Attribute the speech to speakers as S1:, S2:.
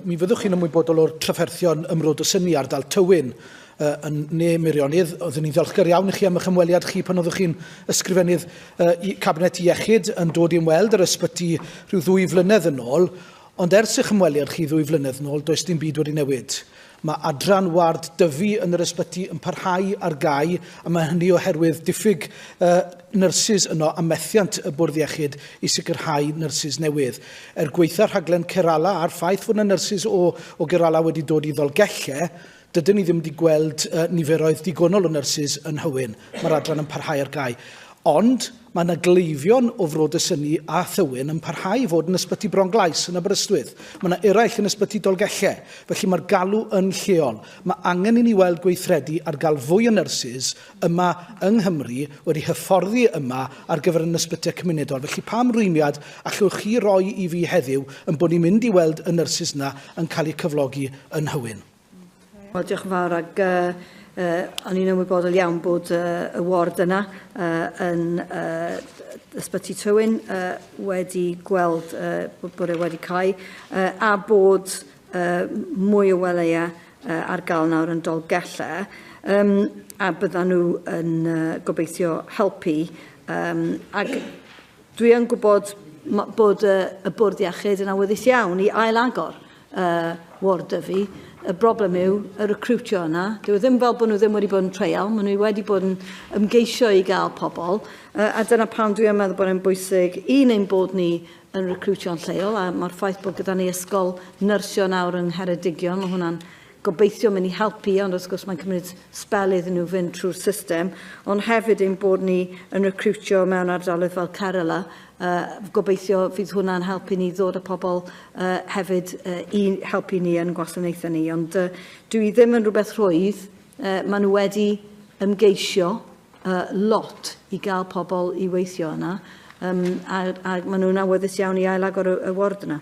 S1: Mi fyddwch chi'n ymwybodol o'r trafferthion ymrod o syni ardal Tywyn uh, yn ne Meirionnydd. Oeddwn i'n ddiolchgar iawn i chi am eich ymweliad chi pan oeddwch chi'n ysgrifennydd uh, i Cabinet Iechyd yn dod i ymweld yr ysbyty rhyw ddwy flynedd yn ôl. Ond ers eich ymweliad chi ddwy flynedd yn ôl, does dim byd wedi newid. Mae adran ward dyfu yn yr ysbyty yn parhau ar gau, a mae hynny oherwydd diffyg uh, nyrsys yno a methiant y bwrdd iechyd i sicrhau nyrsys newydd. Er gwaetha rhaglen Kerala a'r ffaith fod yna nyrsys o, o Kerala wedi dod i Ddolgellau, dydyn ni ddim wedi gweld uh, niferoedd digonol o nyrsys yn Hywyn. Mae'r adran yn parhau ar gau. Ond mae yna gleifion o Fro Dysyni a Thywyn yn parhau i fod yn Ysbyty Bronglais yn Aberystwyth. Mae yna eraill yn Ysbyty Dolgellau. Felly mae'r galw yn lleol. Mae angen i ni weld gweithredu ar gael fwy o nyrsys yma yng Nghymru wedi hyfforddi yma ar gyfer yn ysbyty cymunedol. Felly pam rwymiad allwch chi roi i fi heddiw yn bod ni'n mynd i weld y nyrsys yna yn cael eu cyflogi yn Nhywyn? Wel, diolch
S2: yn fawr ac uh, uh, o'n i'n ymwybodol iawn bod uh, y ward yna uh, yn uh, ysbyty Tywyn uh, wedi gweld uh, bod e wedi cael uh, a bod y mwy o weleia ar gael nawr yn Dolgella um, a byddan nhw yn uh, gobeithio helpu. Um, ac dwi yn gwybod bod uh, y bwrdd iechyd yn awyddus iawn i ail agor uh, Ward Dyfi. Y broblem yw y recrwtio yna. Dwi ddim fel bod nhw ddim wedi bod yn treial, maen nhw wedi bod yn ymgeisio i gael pobl, uh, a dyna pam dwi'n meddwl bod e'n bwysig un ein bod ni yn recriwtio'n lleol, a mae'r ffaith bod gyda ni ysgol nyrsio nawr yng Ngheredigion, mae hwnna'n gobeithio mynd i helpu, ond wrth gwrs mae'n cymryd spel iddyn nhw fynd trwy'r system, ond hefyd ein bod ni yn recriwtio mewn ardaloedd fel Kerala, uh, gobeithio fydd hwnna'n helpu ni ddod â pobl uh, hefyd uh, i helpu ni yn gwasanaethau ni, ond uh, dwi ddim yn rhywbeth rhwydd, uh, maen nhw wedi ymgeisio, a lot i gael pobl i weithio yna, um, a, a maen nhw'n awyddus iawn i ailagor y, y ward yna.